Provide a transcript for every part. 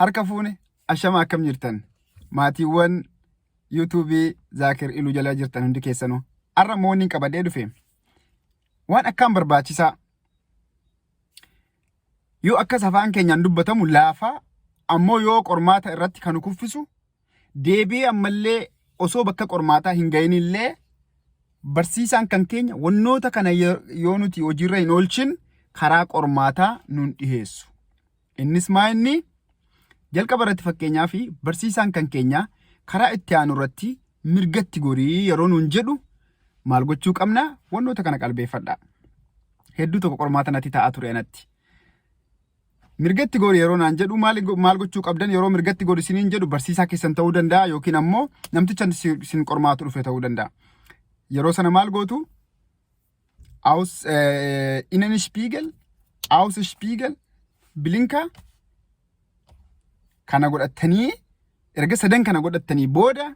harka fuune ashama akkam jirtan maatiiwwan yuutuubii zaakir iluu jala jirtan hundi keessanuu har'a immoo wanni qabadhee dhufe waan akkaan barbaachisaa yoo akkas afaan keenyaan dubbatamu laafaa ammoo yoo qormaata irratti kan kuffisu deebii ammallee osoo bakka qormaataa hin ga'inillee barsiisaan kan keenya wannoota kana yoo nuti hojiirra hin oolchin karaa qormaataa nuun dhiheessu. Innis maa inni? Jalqaba irratti fakkeenyaa fi barsiisaan kan keenya karaa itti aanu irratti mirgatti gorii yeroo nuun jedhu maal gochuu qabna? Wantoota kana qalbeeffadha. Hedduu tokko qormaata natti ta'aa ture anatti. Mirgatti gori yeroo naan jedhu maal maal gochuu qabdan yeroo mirgatti gori isiniin jedhu barsiisaa keessan ta'uu danda'a yookiin ammoo namticha isin qormaatu dhufe ta'uu danda'a. Yeroo sana maal gootu? aus äh, Innenspiegel, Außenspiegel, Blinker kana godhattanii erga sadan kana godhattanii booda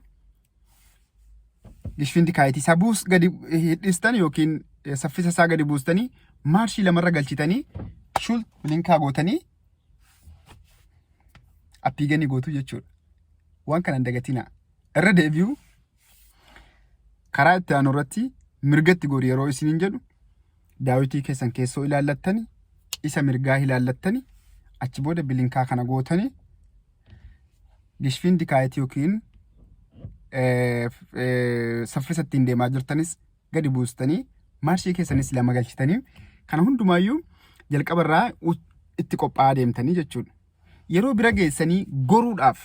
gishfinti kaayitii isaa buus gadi hidhistan yookiin eh, saffisa isaa gadi buustanii maarshii lamarra galchitanii shul bilinkaa gootanii appiiganii gootu jechuudha. Waan kana hin dagatinaa. Irra deebi'u Karaa itti aanu irratti mirgatti gori yeroo isiniin jedhu daawitii keessan keessoo ilaallattani isa mirgaa ilaallattani achi booda bilinkaa kana gootani gishfiin dikaayiti yookiin saffisa ittiin deemaa jirtanis gadi buustanii maarshii keessanis lama galchitanii kana hundumaayyuu jalqaba irraa itti qophaa'aa deemtanii jechuudha. Yeroo bira geessanii goruudhaaf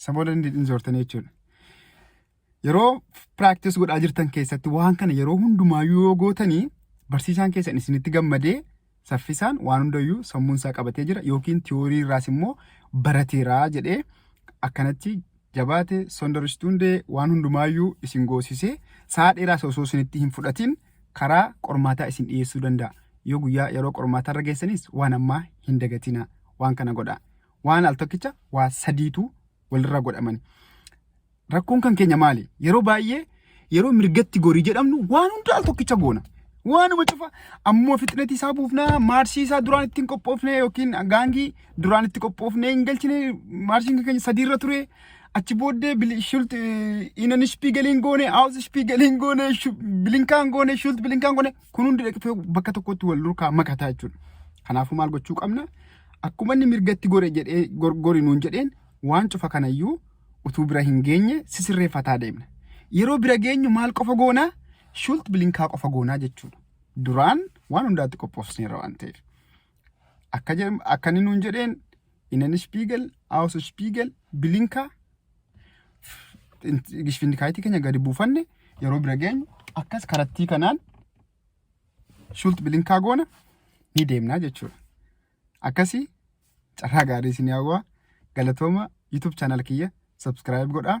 Isa booda hin hin soortanii jechuudha. Yeroo practice godhaa jirtan keessatti waan kana yeroo hundumaayyuu yoo gootanii barsiisaan keessan isinitti gammadee saffisaan waan hundayyuu sammuun isaa qabatee jira yookiin tiyoorii irraas immoo barateera jedhee akkanatti jabaate sondaristundee waan hundumaayyuu isin goosisee sa'a dheeraas osoo isinitti hin fudhatin karaa qormaataa isin dhiyeessuu danda'a. Yoo guyyaa yeroo qormaataa irra geessanis waan ammaa hin dagatina waan kana godhaa. waan al tokkicha waa sadiitu walirraa godhamani. Rakkoon kan keenya maali? Yeroo baay'ee yeroo mirgatti gorii jedhamnu waan hunda al tokkicha goona. Waanuma cufa ammoo fixnetii isaa buufnaa maarshii isaa duraan ittiin qophoofne yookiin gaangii duraan itti qophoofne hin galchine maarshiin kan keenya sadiirra ture. Achi booddee bili- shult inan ishpii galiin goone haawus ishpii galiin goone shu- bilinkaan goone shult bilinkaan goone kun hundi dhaqfee bakka tokkotti wal durkaa makataa jechuudha. Kanaafuu maal gochuu qabna? Akkuma inni mirgatti gore jedhee gori nuun jedheen waan cufa kanayyuu utuu bira hin geenye sisirreeffataa deemna. Yeroo bira geenyu maal qofa goonaa? Shult bilinkaa qofa goonaa jechuudha. Duraan waan hundaatti qophoofsineerra waan ta'eef. Akka akka inni nuun jedheen Inen Spiegel, Aus Spiegel, bilinkaa gishfindikaayitii keenya gadi buufanne yeroo bira geenyu akkas karattii kanaan shult bilinkaa goona ni deemnaa jechuudha. Akkasii carraa gaarii isin hawwaa galatooma YouTube channel kiyya subscribe godhaa.